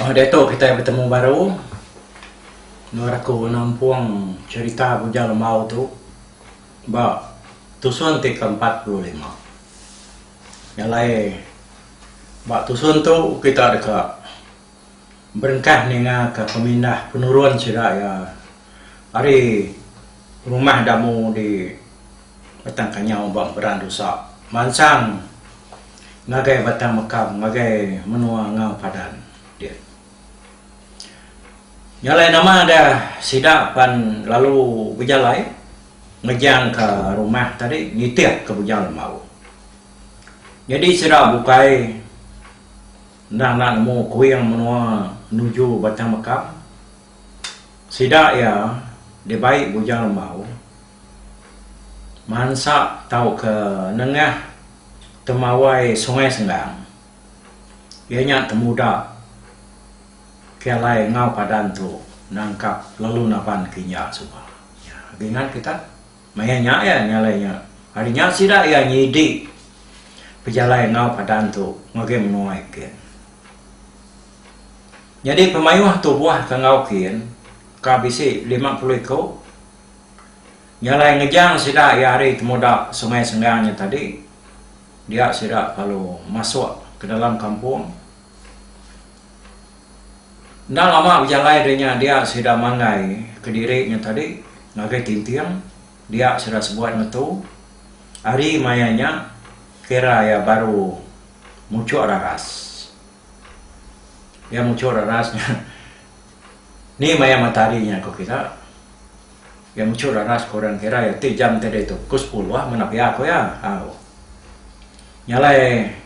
Oh diatu kitai betemu baru endur aku nampung cherita Bujang Lembau tu ba tusun ti ke empat puluh lima. Nya alai ba tusun tu kita deka Berengkah ninga ka pemindah penurun sida iya ari rumah Damu di Batang Kanyau ba Beran Dusa mansang ngagai Batang Mekam ngagai menua Ngau Padan dia. Nya alai nama deh sida pan lalu bejalai ngejang ka rumah tadi nitih ka bujang lembau. Nyadi sida bukai. Enda enda nemu kuing menua nuju Batang Mekam. Sida iya dibai Bujang Lembau mansa tauka nengah temawai Sungai Senggang. Iya nya temuda ke alai enggau padan tu nangkap lalu naban ke iya suba. Nya agi ngan kita. Maya nya iya nyalai nya. Ari nya sida iya nyidi bejalai enggau padan tu ngagai menua Eken. Nyadi pemayuh tubuh ke enggau kin ka bisi lima puluh iku nyalai ngejang sida iya ari temuda Sungai Senggang nya tadi dia sida lalu masuk ke dalam kampung. Enda lama bejalai deh nya dia sida manggai kediri nya tadi ngagai Tinting, dia sida sebuat ngetu. Ari maya nya kira iya baru muchuk raras. Iya muchuk raras nya ni maya matahari nya ku kita. Iya muchuk raras ku orang kira iya ti jam ti ditu pukul sepuluh meh napi iya ku iya. Au. Nya alai.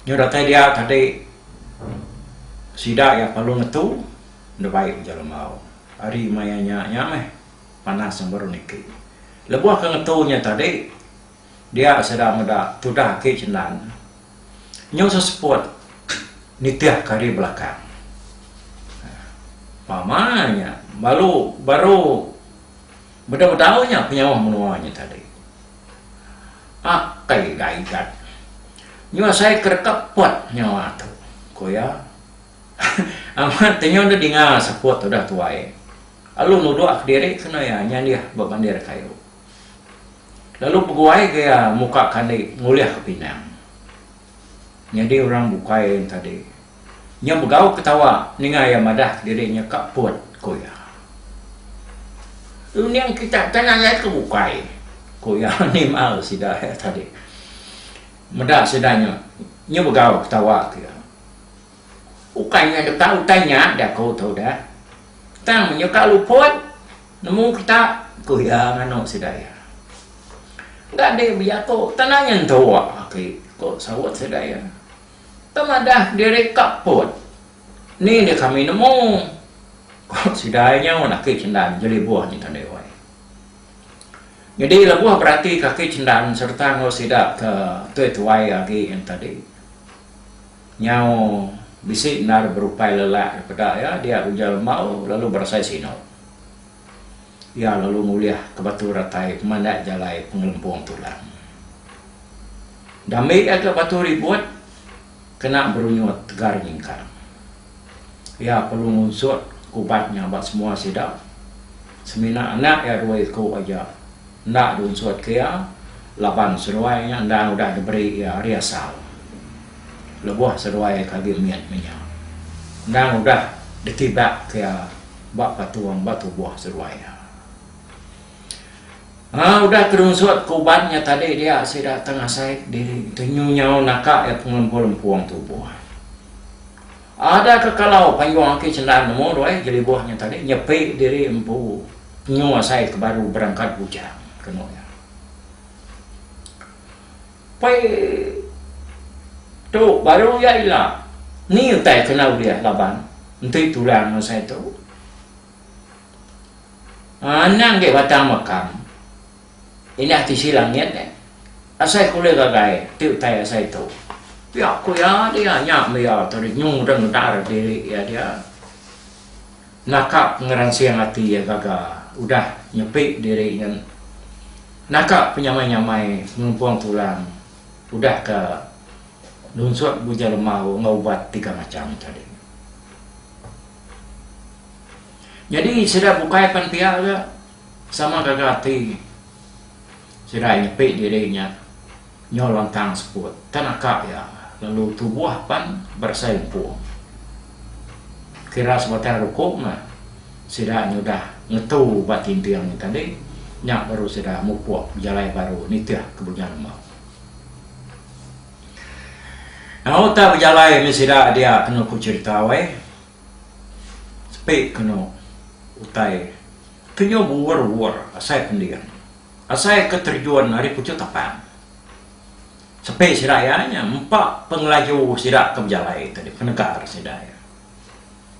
Nyau datai dia tadi sida iya perlu ngetu enda baik ujar Lembau. Ari maya nya nya meh panas yang baru niki. Lebuh ke ngetu nya tadi dia sida meda tudah agi cendan nyu seseput nitih ke ari belakang. Pama nya balu baru bedau bedau nya penyauh menua nya tadi. Akai Gaigat nyuasai kerekap pot nyawa tu, ku iya. Amat tenyau deh dinga seput udah tuai. Lalu nuduk kediri kena iya nyandih ba bandir kayu. Lalu peguai ga iya muka kandi ngulihka pinang. Nyadi orang bukai ntadi. Nya begau ketawa ninga iya madah kediri nya ka put, ku iya. Lu ning kita tang alai ke bukai, ku iya nimbal sida iya tadi. Meda sida nya, nya begau ketawa ke iya. Ukai nya deka utai nya da ku tu dah. Tang menyuka alu put nemu kita, ku iya nganu sida iya. Enda deh bejaku tang nya entu, ku saut sida iya. Tang madah diri ka put. Ni nya kami nemu, ku sida nya mun aki Chendan jelibuh nyengka Deoy. Nyadi lebuh beratika aki Chendan sereta enggau sida ke tuai-tuai agi entadi, nyau bisi endar berupai lelak dipeda iya diak Ujal Embau lalu berasai Sino. Iya lalu ngulih ke batu ratai pemandai jalai pengelempung tulang. Dambi iya ke batu ribut kena berunyut tegar nyingkang. Iya perlu ngunsut ke ubat nya ba semua sida, semina anak iya dua iku aja enda diunsut ke iya laban seduai nya endang udah diberi iya ari asal lebuh seduai ke agi mit menya endang udah ditibak ke iya ba patung ba tubuh seduai iya. Nya udah kedunsut ke uban nya tadi dia sida tang asai diri tu nyau naka iya pengempul empung tubuh. Ada ke kalau panjung aki cendan nemu duai jelibuh nya tadi nyepi diri empu penyu asai ke baru berangkat bujang, kenu iya. Pei tu baru iya ila. Ni utai ke enda ulih laban enti tulang enggau sai tu. Anang gei batang makam indah tisi langit nek. Asai ke ulih gagai ti utai asai tu. Pia ku iya dia nya meh iya tadi nyu dengedar diri iya dia. Naka pengeransing ati iya gaga udah nyepi diri nyen. Naka penyamai-nyamai ngelumpong tulang udah ke nunsut buja lemau enggau ubat tiga macham tadi. Nyadi sida bukai pan pia ga sama gaga ati. Sida nyepi diri nya nyau lantang seput ke naka iya lalu tubuh pan berasai lempung. Kira sebatang rukung meh sida nyudah ngetu ba tinting nya tadi nya baru sida mupuk bejalai baru nitih ke Bunyah Lemau. Nya utai bejalai mih sida dia kenu ku cherita weh. Sepi kenu utai. Kenyau bewur-wur asai pending. Asai ke terjun ari puchut tapang. Sepi sida iya nya empa pengelaju sida ke bejalai tadi penegar sida iya.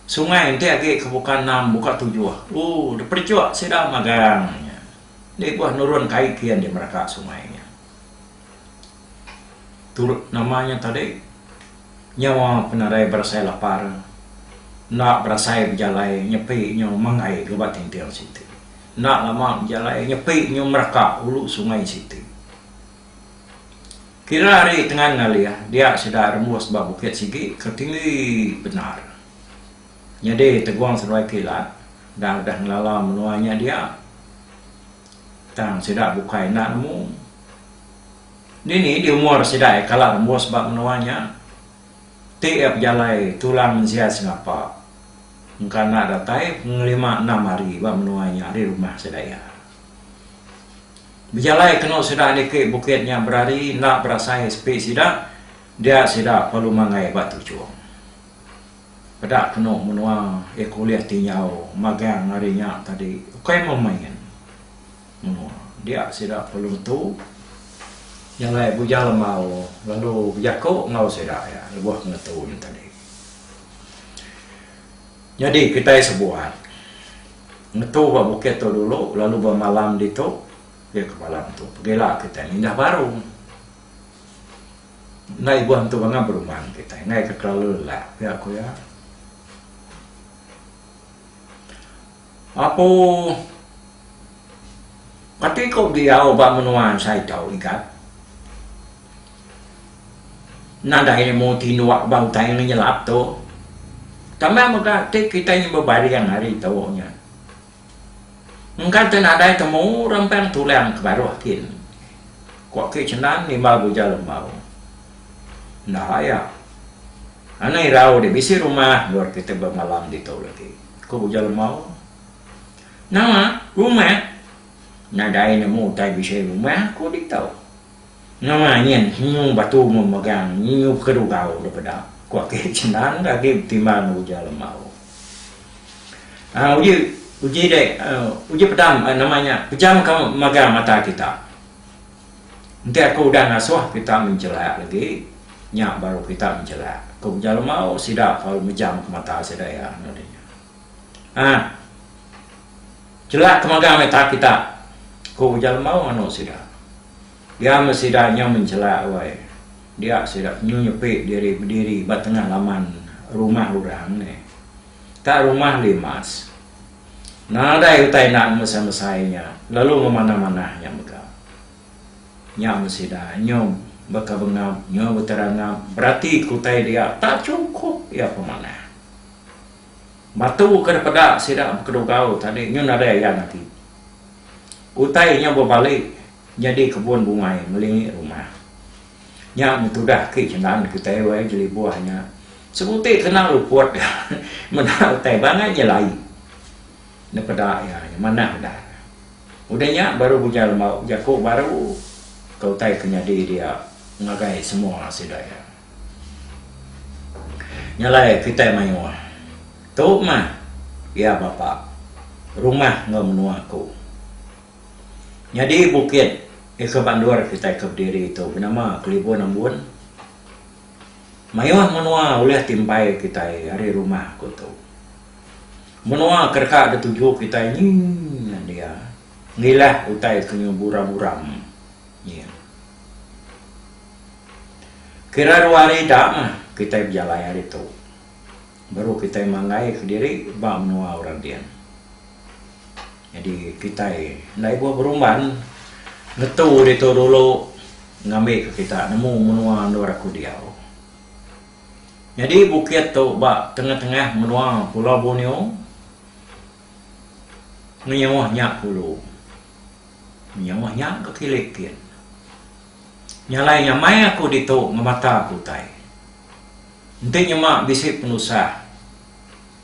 Sungai enti agi ke buka enam buka tujuh ooh depedechuk sida magang nya. Dibuh nurun kai kian di meraka sungai nya. turut nama nya tadi nyawa penadai berasai lapar enda berasai bejalai nyepi nyu menggai gaban tinting siti enda lama bejalai nyepi nyu meraka ulu sungai siti kira ari tengan ngalih dia sida rembus ba bukit sigi ke tinggi bendar nyadi tegong seduai kilat enda udah ngelala menua nya dia tang sida bukai enda nemu. Dini di umur sidai kala rembus ba menua nya? Ti iya pejalai tulang mensia sengapa engka enda datai pengelima enam hari ba menua nya ari rumah sida iya. Bejalai kenu sida niki bukit nya berari enda berasai sepi sida dia sida perlu manggai ba tuchung. Peda kenu menua iya ke ulih tinjau magang ari nya tadi ukai memain. Menua. Dia sida perlu netu nya alai Bujang Lemau lalu bejaku enggau sida iya lebuh ngetu nya tadi. Nyadi kitai sebuat ngetu ba bukit tu dulu lalu bemalam ditu iya ke malam tu pegila kitai mindah baru endai ibuh ngetu bangang beruman kitai ngaika kelalu lelak pia ku iya. Apo ati ku diau ba menua ensai tau Igat? Nadai nemu tinduk ba utai ngenyelap tu. Tama mega ti kitai nyau bebaring hari tu nya. Engka te nadai temu rempang tulang ke baruh kin. Ku aki Chendan nimbal Buja Lembau. Enda ayak. Anang irau deh bisi rumah endur kitai bemalam ditu lagi. Ku Ujar Lemau. Nama rumah? Nadai nemu utai bisi rumah aku ditu. Nama nyin nyu batu mun megang nyu bekedugau dep eda, ku Ake Cendang ke agi betimbang Ujar Lemau. Aaa uji uji deh, uji pedam nama nya pejamka mega mata kita. Enti aku udah ngasuh kita menjelak lagi, nya baru kita menjelak, ku Beja Lemau sida lalu mejam ke mata sida iya anu deh nya. Ha. Jelak ke magang mita kita, ku Beja Lemau nganu sida. Dia meh sida nyau menjelak wai. Dia sida nyu nyepi diri bediri ba tengah laman rumah orang neh. Ka rumah limas. Nadai utai enda ngemesai-mesai nya lalu ngemanah-manah nya mega. Nya meh sida nyom baka bengap enggau beterangap beratika utai dia tak chukup iya pemanah. Batu ke dipeda sida bekedugau tadi nyu nadai ayan agi. Utai nya bebali nyadi kebun bungai ngelingi rumah. Nya ngetudah ke jenan kitai wai jeli buah nya. Sebuti kena luput ga meda utai bangat nya lai nepeda iya nya manah udah. Udah nya baru ujar lembau bejaku baru ke utai ke nyadi dia ngagai semua sida iya. Nya alai kitai mayuh. Tu mah iya bapa rumah enggau menua aku. Nyadi bukit ika bandur kitai ke bediri tu benama Kelibun Ambun. Mayuh menua ulih timpai kitai ari rumah aku tu. Menua ke deka dituju kitai nyi nya dia ngilah utai ke nyu buram-buram nyi. Kira dua hari ida mah kitai bejalai ari tu baru kitai manggai kediri ba menua orang din. Nyadi kitai enda ibuh berumban ngetu ditu dulu ngambika kita nemu menua endur aku diau. Nyadi bukit tu ba tengah-tengah menua Pulau Borneo ngenyauh nya kulu. Ngenyauh nya ke kili kin. Nyalai nyamai aku ditu ngemata aku utai. Enti nyema bisi penusah.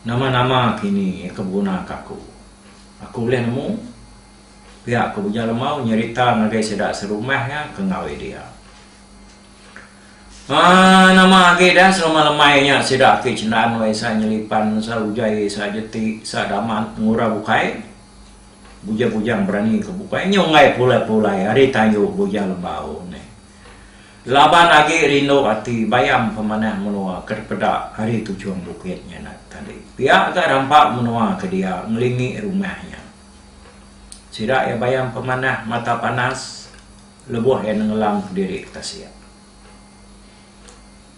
Nama-nama kini iya ke beguna ke aku? Aku ulih nemu pia ke Uja Lemau nyerita ngagai sida serumah iya ke ngawi dia. Haa nama agi dah selama lemai nya sida aki Cendan wei sa Nyelipan, sa Ujai, sa Jeti, sa Damat, Ngura bukai. Bujang-bujang berani ke bukai nyunggai pulai-pulai ari tayu Uja Lemau neh. Laban agi rindu ati bayam pemanah menua ke dipeda ari tujung bukit nya nat tadi. Pia ga rampa menua ke dia ngelingi rumah nya. Sida iya bayam pemanah mata panas lebuh iya nengelam kediri ke tasik.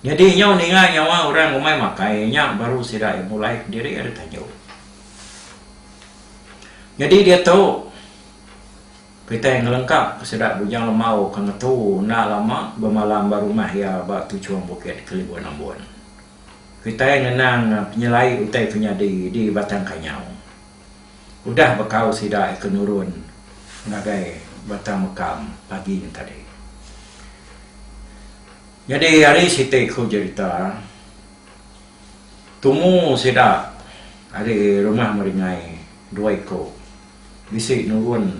Nyadi nyau ninga nyawa orang umai makai nya baru sida iya mulai kediri ari tanjung. Nyadi diatu. Kitai ngelengkap sida Bujang Lemau ke ngetu enda lama bemalam ba rumah iya ba Tuchong Bukit, Kelibun Ambon. Kitai ngenang penyelai utai ke nyadi di Batang Kanyau. Udah bekau sida ika nurun ngagai Batang Mekam pagi tadi. Nyadi ari siti ku jerita, tumu sida ari rumah Meringai dua iku. Bisi nurun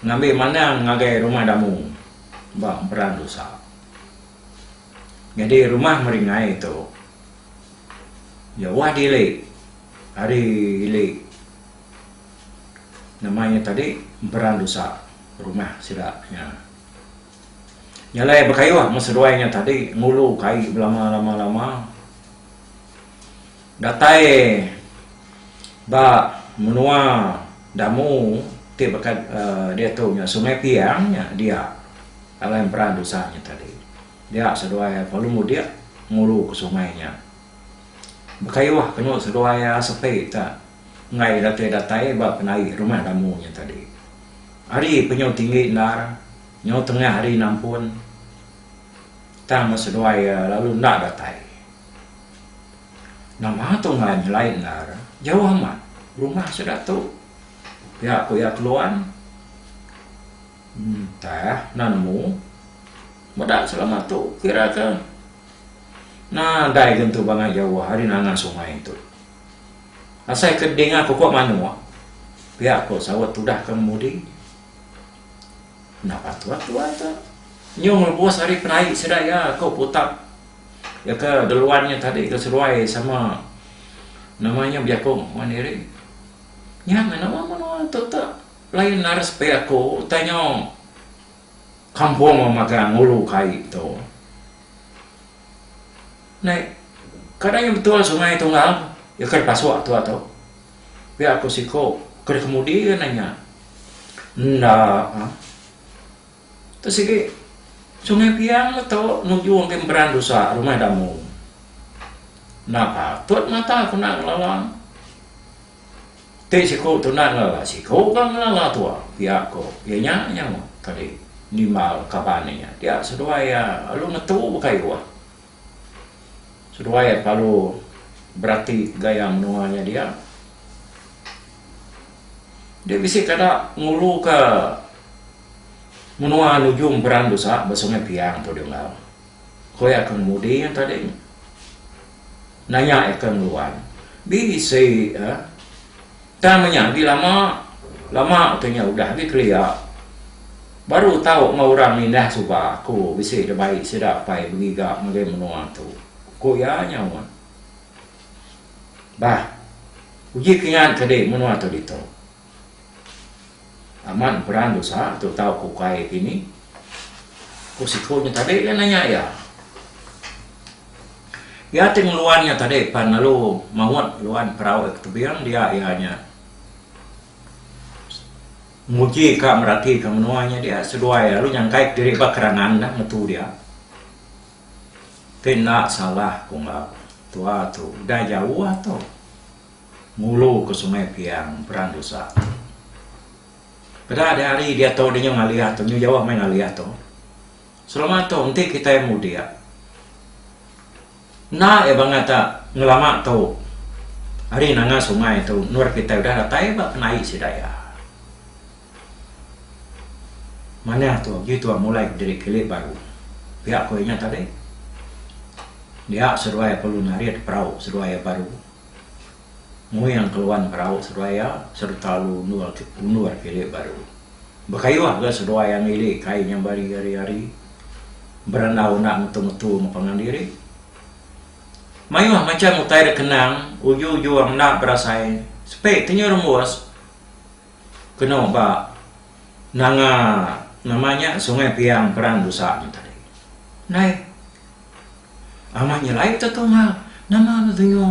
ngambi manang ngagai rumah damu ba emperan dusa. Nyadi rumah meringai tu jauh dili ari ili nama nya tadi emperan dusa rumah sida nya. Jalai bekayuh meh seduai nya tadi ngulu kai belama lama lama. Datai ba menua Damu ti baka diatu nya Sungai Piang nya dia alai emperan dusa nya tadi. Dia seduai iya kelalu mudik ngulu ke sungai nya. Bekayuh kenu seduai iya sepi ka enggai ira ti datai ba penai rumah Damu nya tadi. Ari penyu tinggi endar nyau tengah ari nampun tang seduai iya lalu enda datai. Nama tu enggau nyelai endar? Jauh amat rumah sida tu. Pia ku iya keluan. Entah enda nemu. Meda selama tu kira ke nadai gentu bangai jauh ari nanga sungai tu. Asai ke dinga pokok manuk, pia ku saut tudah ke ngemudi. Enda patut tuai tu nyung rebus ari penai sida iya, ku Putap. Iya ke geluan nya tadi ke seruai sama nama nya Biakung wan diri. Nya nama menua tu te lain laras pia aku utai nyo kampung wang magang ngulu kai tu. Nai kada nya betul sungai tunggal iya ke dipasuk tu atu. Pia ku siku ke dikemudi nanya enda. Tu sigi, Sungai Biang meto nujung ke emperan rusa rumah damu. Enda patut mata ku enda ngelala. Ti siku tu enda ngelala siku ka ngelala tua pia ko iya nya nyau tadi nimbal kaban iya nya dia seduai iya lalu ngetu bekayoh. Seduai kelalu berati gaya menua nya dia. Dia bisi kada nguluka menua nujung Berang Dusa ba Sungai Piang tu deh enggau. Ku iya ke ngemudi iya tadi. Nanya iya ke ngeluan, bisi eh Tang nya agi lama, lama tu nya udah agi kelia. Baru tau enggau orang nindah suba aku bisi da baik sida pai begiga ngagai menua tu, ku iya nyaut. Bah, uji kingat kadi menua tu ditu. Amat emperan dosa tu tau ke ukai ti ni? Ku siku nya tadi lalu nanya iya. Iya ti ngeluan nya tadi pan lalu maut luan perau iya ke tebing dia iya nya nguji ka merati ka menua nya dia seduai lalu nyangkai ke diri ba kerangan dah ngetu dia. Ti enda salah ku enggau tua tu udah jauh tu. Ngulu ke Sungai Piang, Perang Dusa. Peda diari diatu dinyu ngalih tu, nyu jauh meh ngalih tu. Selama tu enti kitai mudik, enda iya bangah tak ngelama tu ari nanga sungai tu endur kitai udah datai ba penai sida iya. Manah tu uji tuan mulai diri kilik baru. Pia ku inya tadi. Dia seduai perlu narit perau seduai iya baru. Muing keluan berau seduai iya sereta alu undur undur ke ili baru. Bekayuh ga seduai angi ili kai nyambai ari ari berandau enda ngetu ngetu enggau pangan diri. Mayuh macham utai da kenang uju uju enda berasai sepe tenyu rembus kenu ba nanga nama nya sungai piang peran busa nya tadi. Nai. Amat nyelai te tu enggau nama lu tingu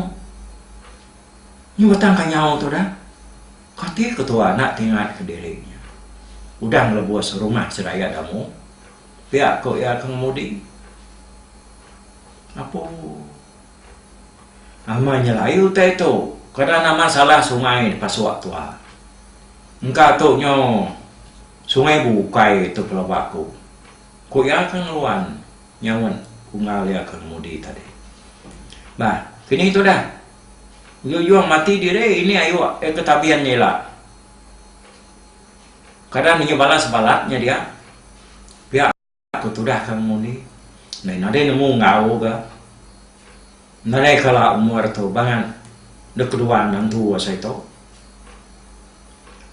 nyi batang kanyau tu dah. Kati ketua anak ti ngat ke diri nya. Udah ngelebus rumah sedaya damu pia ku iya ke ngemudi. Apu. Amat nyelai utai tu kena nama salah sungai dipasuk tua. Engka tu nyu sungai bukai tu pelaba ku. Ku iya ke ngeluan Nyaut ku enggau iya ke ngemudi tadi. Bah, kini tudah. Jujung mati diri ini ayu iya ke tabin nya ila. Kada ninga bala sebalat nya dia. Pia ku tudah ke ngemudi. Ndai nadai nemu enggau ga. Nadai kala umur tu bangat dek kedua endang tu asai tu.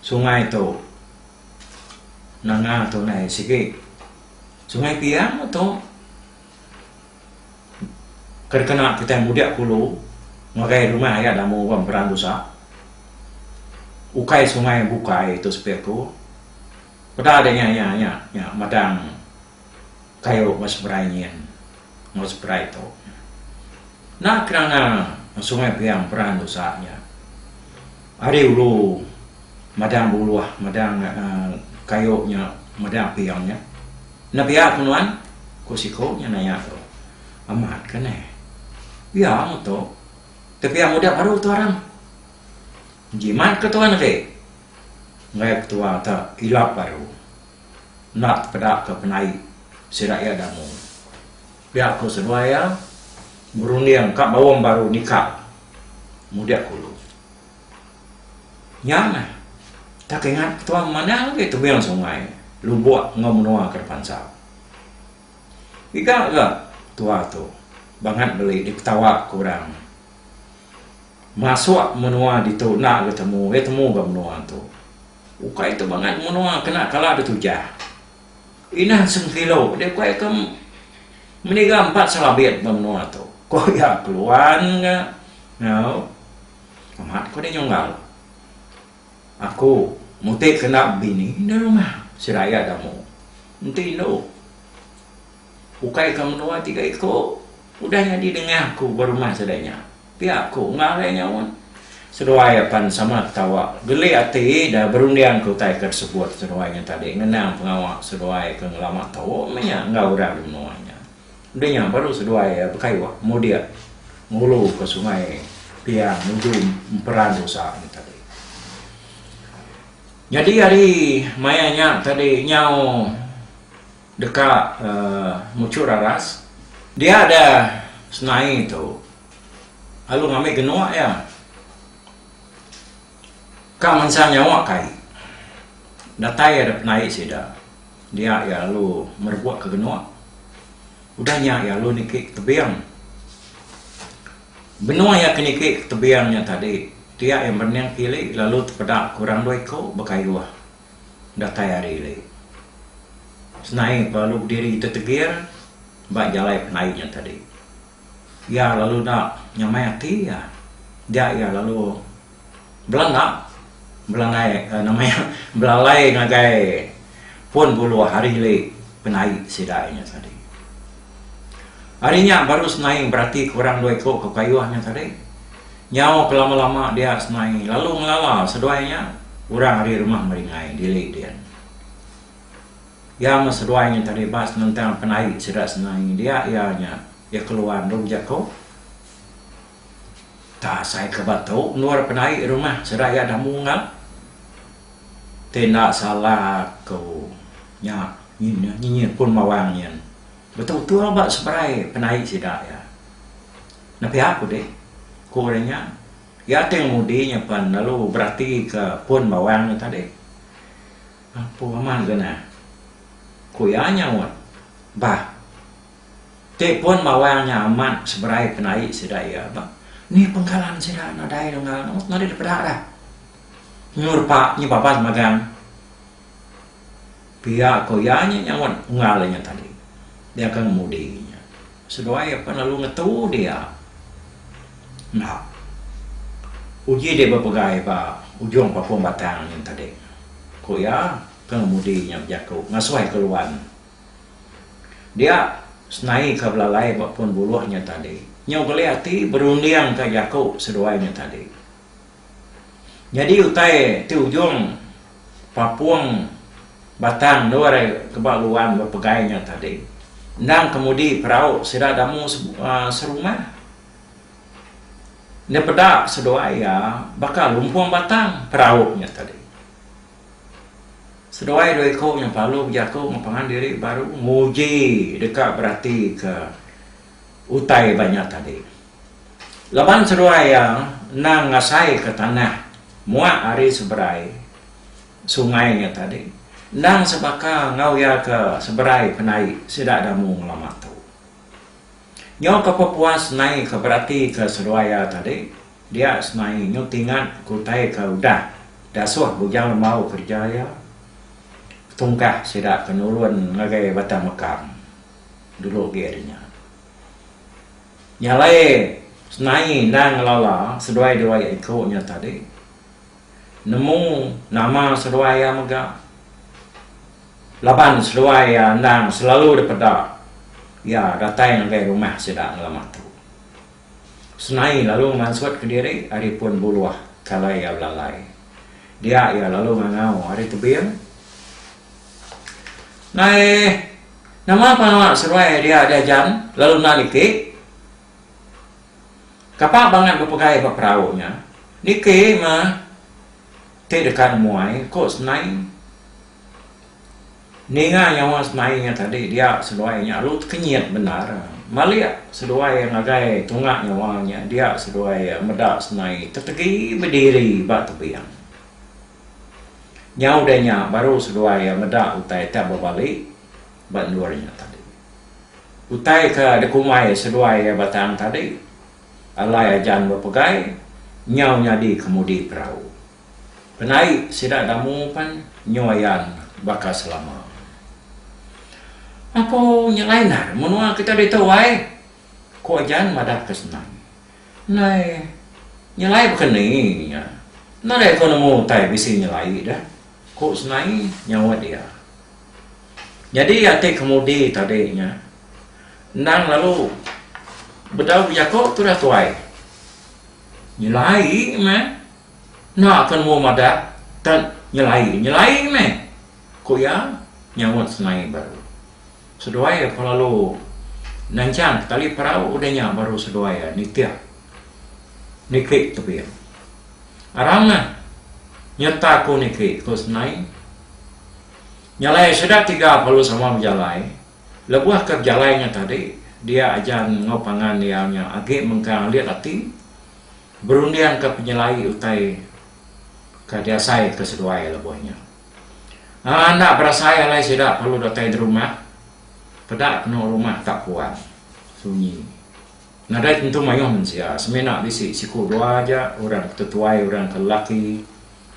Sungai tu nanga tu ndai sigi. Sungai Piang tu ke dikena kitai mudik kulu ngagai rumah iya da mung orang Berang Dusa. Ukai sungai bukai tu sepi aku. Peda deh nya nya nya nya madang kayu enggau seberai nyin enggau seberai tu. Enda kenanga Sungai Piang Berang Dusa nya. Ari ulu madang buluh madang kayu nya madang ping nya. Enda pia ku nuan? ku siku nya naya tu. Amat ka neh. Pia mu tu. Tau pia mudip baru tu aram. Njimat ka tuan agi. Enggai ketua ta ilap baru. Enda tepeda ka penai sida iya damu. Pia ku seduai iya, berunding ka baum baru nikal mudik kulu. Nya meh, tak ingat ketuan manah agi tebing sungai lubuk enggau menua ke depansa. Giga ga tua tu bangat beli dipetawa ku orang. Masuk menua ditu enda ga temu, iya temu ga menua tu. Ukai tu bangat menua kena kala ditujah. Inan Sengkilo dek ku iya ke meniga empat selabit ba menua tu ku iya keluan ga nyau amat ku dek nyunggal aku muti kenda bini nda rumah sida iya damu enti indu. Ukai ka menua tiga iku udah nyadi nengah aku ba rumah sida nya. Pia aku enggau ari nyawa. Seduai apan sama ketawa. Geli ati da berunding ke utai ke disebut seduai nya tadi ngenang pengawa seduai ke ngelama tau meh nya enggau orang di menua nya. Udah nya baru seduai bekayuh mudik ngulu ke Sungai Piang nuju emperan rusa nya tadi. Nyadi ari maya nya tadi nyau. Deka muchur aras. Dia deh senai tu. Lalu ngambi genuk iya. Ka mensa nyawa kai. Datai iya deh penai sida. Dia iya lalu merebuk ke genuk. Udah nya iya lalu niki ke tebing. Benung iya ke niki ke tebing nya tadi, dia iya berening ke ili lalu tepeda ke orang dua iku bekayuh. datai hari lei. Senai belalu bediri tetegir ba jalai penai nya tadi. Iya lalu enda nyamai ati iya. Dia iya lalu belanda belandai uhh nama iya belalai ngagai pun buluh hari lei penai sida nya tadi. Ari nya baru senai beratika orang dua iku ke payuh nya tadi. Nyau ke lama-lama dia semai lalu ngelala seduai nya orang ari rumah Meringai dili din. Iya meh seduai nya tadi bas nentang penai sida semai dia iya nya iya keluar endur jako ta asai ke ba tu endur penai rumah sida iya dah munggal ti enda salah aku nya nyinyit pun bawang nyin betul-betul ba seberai penai sida iya. Nepiak ku dih, ku orang nya. Iya ti ngemudi nya pan lalu beratika pun bawang nya tadi. Apu amat ga nah, ku iya nyaut. Bah, ti pun bawang nya amat seberai penai sida iya bah. Ni pengkalan sida nadai dengah, nadai dipeda dah. Nyu repa, nyu babas magang. Pia ko iya nya nyauan unggal inya tadi. Dia ke ngemudi inya. Seduai apan lalu ngetu dia. Enda. Uji dia bepegai ba ujung papung batang nya tadi. Ko iya ke ngemudi inya bejaku ngasuh ke luan. Dia senai ke belalai ba pun buluh nya tadi. Nyau geli ati berunding ka jaku seduai nya tadi. Nyadi utai ti ujung papung batang endur arai ke ba luan bepegai nya tadi. Endang kemudi perau sida demu serumah. Nya peda seduai iya baka lumpung batang perau nya tadi. Seduai dua iku nya pelalu bejaku enggau pangan diri baru nguji deka beratika utai ba nya tadi. Laban seduai iya endang ngasaika tanah muak ari seberai sungai nya tadi endang sebaka enggau iya ke seberai penai sida Damu ngelama tu. Nyau ke pepuas nai ke beratika seduai iya tadi dia senai nyau tingat ke utai ke udah dasuh Bujang Lembau kereja iya tungkah sida ke nurun ngagai Batang Mekam dulu agi ari nya. Nya alai senai endang ngelala seduai dua iya iku nya tadi. Nemu nama seduai iya mega laban seduai iya endang selalu dipeda iya datai ngagai rumah sida ngelama tu. Senai lalu ngemansutka diri ari pun buluh kala iya belalai. Dia iya lalu ngangau ari tebing. Nai nama pengawa seduai dia di Ajan lalu enda niki? Kapa bangat bepegai ba perau nya? Niki mah ti deka nemuai ku Senai. Ninga nyawa Senai nya tadi dia seduai nya lalu tekenyit bendar. Malik seduai ngagai tunga nyawa nya dia seduai meda Senai tetegi bediri ba tebing. Nyau udah nya baru seduai iya meda utai ti bebali ba endur nya tadi. Utai ke dikumbai seduai iya batang tadi alai ajan bepegai nyau nyadi kemudi perau. Penai sida damu pen nyu ayan baka selama. Apo nya lain ai menua kita ditu ai, ku ajan madahka senang. Nai. Nyelai baka ni nya. Nadai ko nemu utai bisi nyelai deh, ku Senai nyaut iya. Nyadi ati kemudi tadi nya endang lalu bedau bejaku tudah tuai. Nyelai meh. Enda ko nemu madah tang nyelai. Nyelai meh, ku iya nyaut Senai baru. Seduai iya pun lalu nanchang tali perau udah nya baru seduai iya nitih niki tebing. Arang meh nyereta aku niki ku Senai. Nyalai sida tiga lalu sama bejalai. Lebuh ke bejalai nya tadi dia Ajan enggau pangan iya nya agi mengkang alit ati berundingka penyelai utai ke diasai ke seduai lebuh nya. Aaa enda berasai alai sida perlu datai derumah peda kenu rumah tak puan sunyi nadai tentu mayuh mensia semina bisi siku dua aja orang ke tetuai orang ke lelaki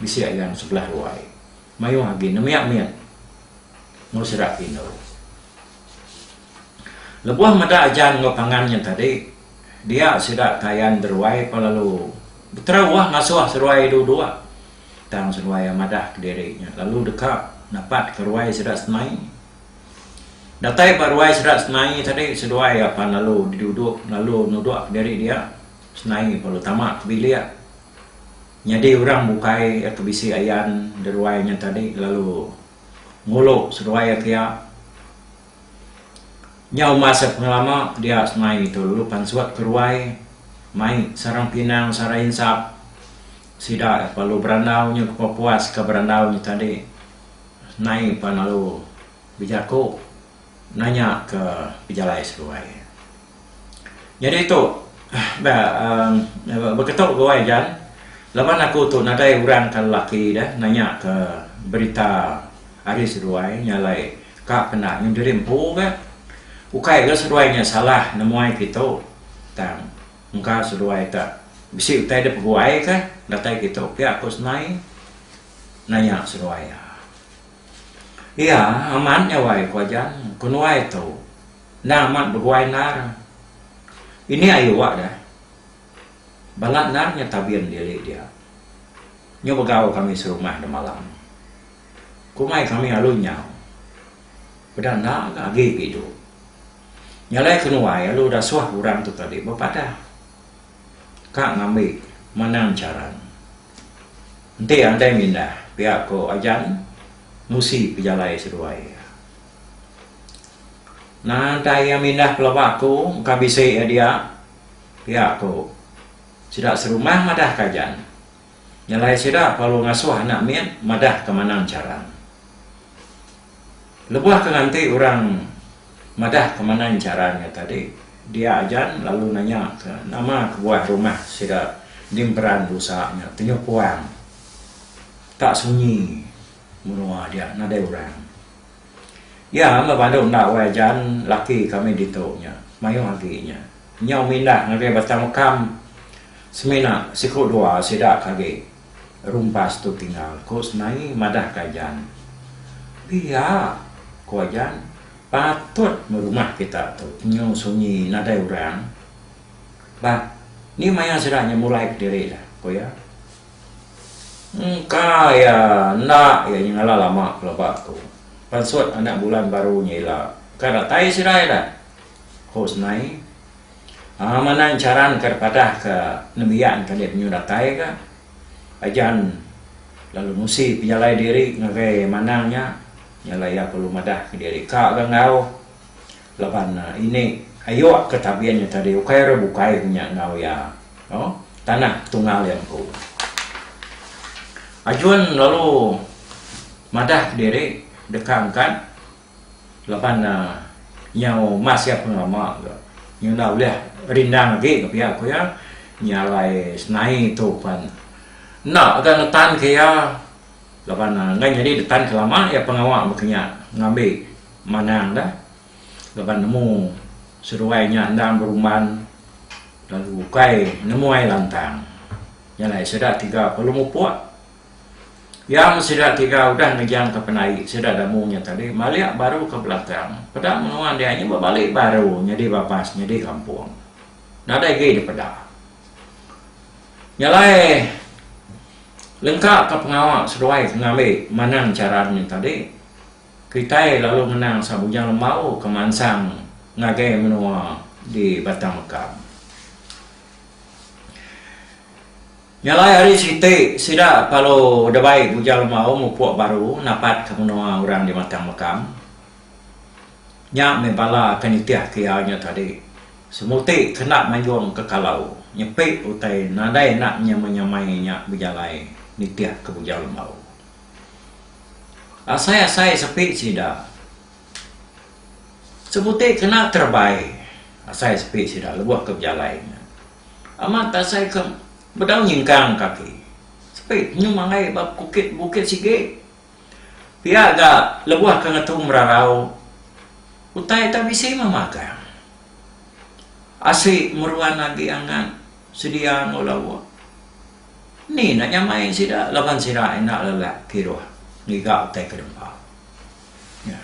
bisi ayan sebelah ruai mayuh agi nembiak mit enggau sida ke indu lebuh meda ajan enggau pangan nya tadi. Dia sida kayan beruai pah lalu beterauah ngasuh seruai dua-dua tang seruai iya madah kediri nya lalu deka napatka ruai sida senai. Datai ba ruai sida senai tadi seduai iya pan lalu diduduk lalu nudukka diri dia senai pah lalu tama ke bilik nyadi orang bukai iya ke bisi ayan di ruai nya tadi lalu ngulu seduai iya kiya. Nyau masa pengelama dia semai tu lalu pansut ke ruai mai sarang pinang sarang insap sida yak perlu berandau nyu ke puas ke berandau nyu tadi nai pa lalu bejaku nanya ke pejalai seduai. Nyadi tu bah uhh beketu ga wai jan laban aku tu nadai orang ka lelaki deh nanya ka berita hari seduai nya alai ka kena nyun diri empu ga ukai ga seduai nya salah nemuai ke tu tang engka seduai tu bisi utai dep peguai ka datai ke tu pia ku senai nanya seduai iya amat nya wai ku jan kenuai tu. Endar amat beguai endar. Ini ayu awak dah. Balat endar nya tabin diri dia. Nyu begau kami serumah demalam. Ku mai kami alu nyau. Peda enda ga agi ke idup. Nyalai ke nuai alu dasuh orang tu tadi bepadah. Ka ngambi manang charan. Enti andai mindah pia ko Ajan nusi pejalai seduai iya. Ngantai iya mindah pelaba aku engka bisi iya dia, pia ku sida serumah madah Kajan. Nyelai sida perlu ngasuh anak mit madah ke manang charan. Lebuh ke nganti orang madah ke manang charan iya tadi, dia Ajan lalu nanya ke nama kebuah rumah sida di emperan busa nya tenyukuang tak sunyi menua dia nadai orang. Iya meh bandu enda wai aja laki kami ditu nya mayuh agi nya. Nyau mindah ngagai Batang Mekam semina siku dua sida ke agi rumpas tu tinggal, ku Senai madah ka Jan. Pia, ku Jan, patut meh rumah kita tu penyu sunyi nadai orang. Ba, ni maya sida nya mulai kediri dah, ku iya. Engka iya enda iya nyengala lama pelaba tu pansut anak bulan baru nya ila ka datai sida ida ku senai um manang charan ka padah ka nembiak ka dek penyu datai ka ajan lalu ngusi pejalai diri ngagai manang nya nya lah iya perlu madah ka diri ka ga enggau. Laban ini ayok ke tabin nya tadi ukai orang bukai ke nya enggau iya no tanah Tungal iya empu. Ajun lalu madah diri deka angkat laban nyau mas iya pun lama ga nyau enda ulih rindang agi ke pia ku iya nya alai senai tu pan enda ga ngetan ke iya laban enggai nyadi ngetan ke lama iya pengawa ba ke nya ngambi Manang da laban nemu seruai nya endang berumban lalu ukai nemu ai lantang. Nya alai sida tiga perlu mupuk. Iya meh sida tiga udah ngejangka penai sida damu nya tadi malik baru ke belakang. Peda menua dia nya bebalik baru nyadi babas nyadi kampung. Nadai agi dipeda. Nya alai lengkaka pengawa seduai ke ngambi manang chara nya tadi. Kitai lalu ngenang sang Bujang Lembau ke mansang ngagai menua di Batang Mekam. Nya alai ari siti sida palu debai Bujang Lembau mupuk baru napatka menua orang di Batang Mekam. Nya meh bala ke nitihka iya nya tadi. Semuti kena manjung ke kalau nyepi utai nadai enda nyamai-nyamai nya bejalai nitihka Bujang Lembau. Asai-asai sepi sida. Sebuti kena kerebai asai sepi sida lebuh ke bejalai nya. Amat asai ke bedau nyingkang kaki. Sepi nyum angai ba bukit bukit sigi. Pia ga lebuh ke ngetu merarau utai tak bisi meh magang. Asi meruan agi angat sedia enggau lauk. Ni enda nyamai sida laban sida enda lelak kiruh ngiga utai kedempa. Nya.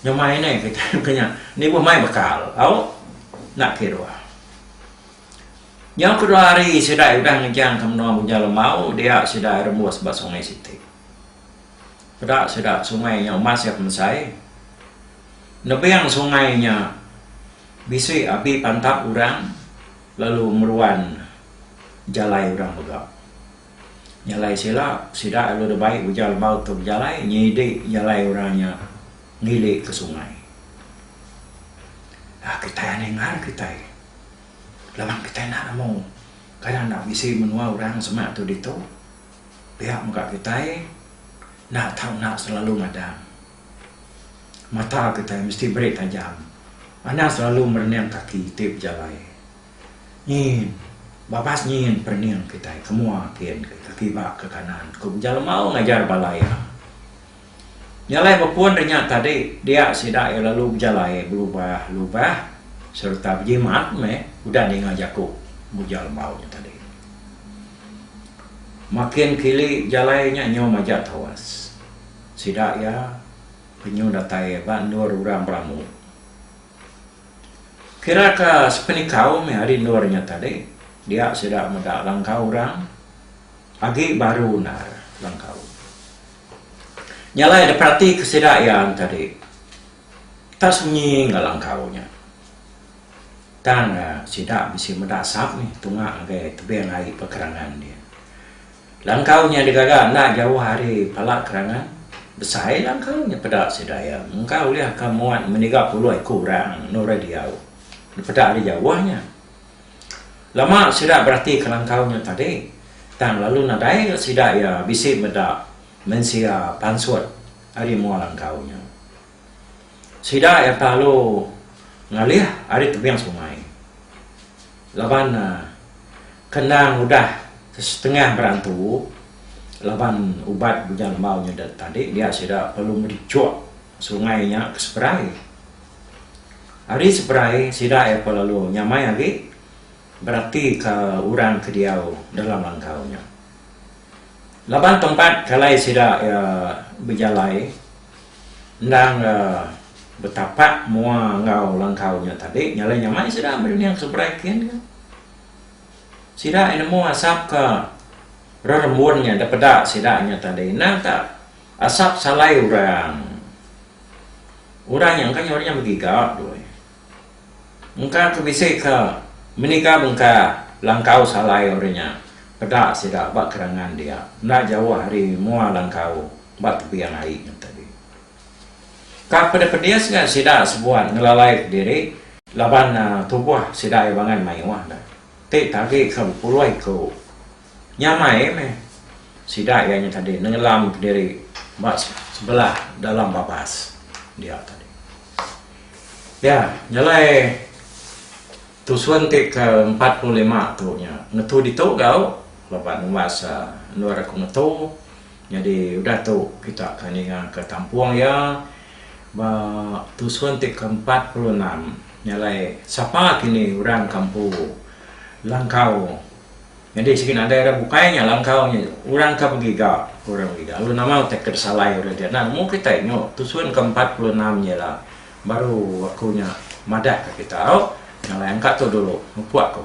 Nyamai neh kitai ke nya nibuh mai bekal au enda kiruh. Nyau kedua hari sida udah ngejangka menua Bunjal Lemau dia sida rembus ba Sungai Siti. Peda sida sungai nya umas iya pemesai. Nebing sungai nya bisi abi pantap orang. Lalu meruan jalai orang mega. Jalai sila, sida lalu deba ai ujar lebau tu bejalai nyidi jalai orang nya ngili ke sungai. Aa kitai anai ngar kitai. Laban kitai enda nemu. Kada enda bisi menua orang semak tu ditu. Pia mega kitai enda tau enda selalu magang. Mata kitai mesti meri tajam anang selalu merening kaki ti bejalai. Nyin, babas nyin perening kitai ke mua kin ke kiba ke kanan ku beja lemau ngajar bala iya. Nya alai bepun ri nya tadi dia sida iya lalu bejalai belubah-lubah sereta bejimat meh udah ninga jaku beja lemau nya tadi. Makin kili bejalai nya nyau majak tawas. Sida iya penyu datai ba endur orang beramu. Kira ka sepenikau meh ari endur nya tadi dia sida meda langkau orang agi baru endar langkau. Nya alai diperatika sida iya tadi tak sunyi enggau langkau nya. Tang sida bisi meda asap meh tunga ngagai tebing ai pekerangan dia. Langkau nya digaga enda jauh ari Pala Kerangan. Besai langkau nya peda sida iya mungka ulih ka muat meniga puluh iku orang nurih diau dipeda ari jauh nya. Lama sida beratika langkau nya tadi tang lalu nadai ga sida iya bisi meda mensia pansut ari mua langkau nya. Sida iya telalu ngalih ari tebing sungai laban kenang udah sesetengah berantu laban ubat Bunya Lembau nya tadi dia sida perlu ngerijuk sungai nya ke seberai. Ari seberai sida iya pa lalu nyamai agi beratika orang ke diau dalam langkau nya. Laban tempat kalai sida iya bejalai. Endang betapa mua enggau langkau nya tadi nyalai nyamai sida meri nya ke seberai kin ka. Sida aye nemu asap ke rerembun nya da peda sida nya tadi endang ka asap salai orang. Orang nya engka nyau nya begiga doi. Engka ke bisi ke meniga bengka langkau salai orang nya peda sida ba kerangan dia enda jauh ari mua langkau ba tebiang ai nya tadi. Ka pedis-pedis ga sida sebuat ngelalai ke diri. Laban tubuh sida iya bangan mayuh da ti tagi ke bepuloi ku. Nyamai meh sida iya nya tadi nengelam kediri ba sebelah dalam babas dia tadi. Ya, nyelai tusun ti ke empat puluh lima tu nya ngetu ditu gau laban umbas endur aku ngetu nyadi udah tu kita ke ninga ke tampung iya ba tusun ti ke empat puluh enam nyelai sapa kini orang Kampu Langkau. Nyadi sigi nadai orang bukai nya langkau nya orang ka begiga ke orang begiga lalu nama utai ke disalai orang ti anak nemu kitai nyu tusun ke empat puluh enam nya ila baru aku nya madah ka kita au ngalai angka tu dulu mupuk aku.